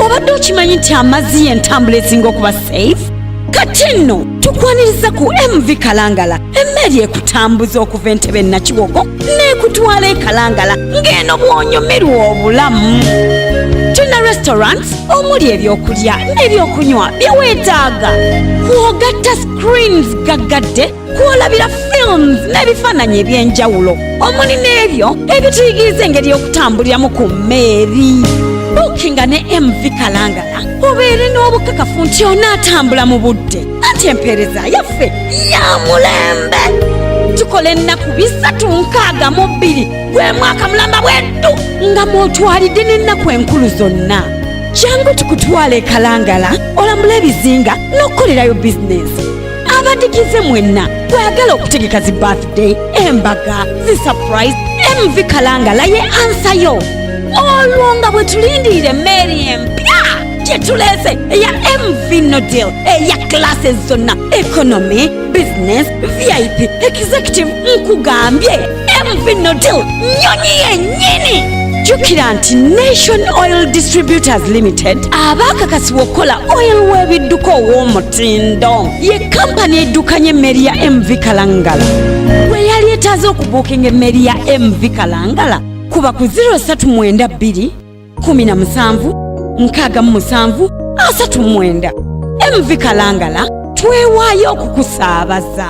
obadde okimanyi nti amazzi y'entambula esinga okuba safe kati nno tukwaniriza ku mv kalangala emmeeri ekutambuza okuva entebe nakiwoko n'ekutwala ekalangala ng'eno bw'onyumirwa obulamu tulina restaurant omuli ebyokulya n'ebyokunywa bye weetaaga kwogatta screens gaggadde kwolabira films n'ebifaananyi eby'enjawulo omuli n'ebyo ebituyigiriza engeri y'okutambuliramu ku mmeeri buukinga ne mv kalangala obeere n'obukakafu nti onaatambula mu budde anti empeereza yaffe ya mulembe tukola ennaku bisatu nkaaga mu bbiri gwe mwaka mulamba bweddu nga mwotwalidde n'ennaku enkulu zonna jangu tukutwala ekalangala olamula ebizinga n'okukolerayo bizinensi abadigize mwenna bwagala okutegeka zi birthday embaga zi surprise mv kalangala ye ansa yo olwo nga bwe tulindirira emmeeri empya gye tuleese eya mv nodil eya classes zonna economy business vip executive nkugambye mv nodil nyonyi yennyini jjukira nti nation oil distributors limited abaakakasibwa okukola oil w'ebidduka ow'omutindo ye kampani eddukanya emmeri ya mv kalangala bwe yali etaaze okubuukinga emmeri ya mv kalangala kuba ku 032 kumi na musanvu nkaaga mu musanvu asatu mwenda mv kalangala twewaayo okukusaabaza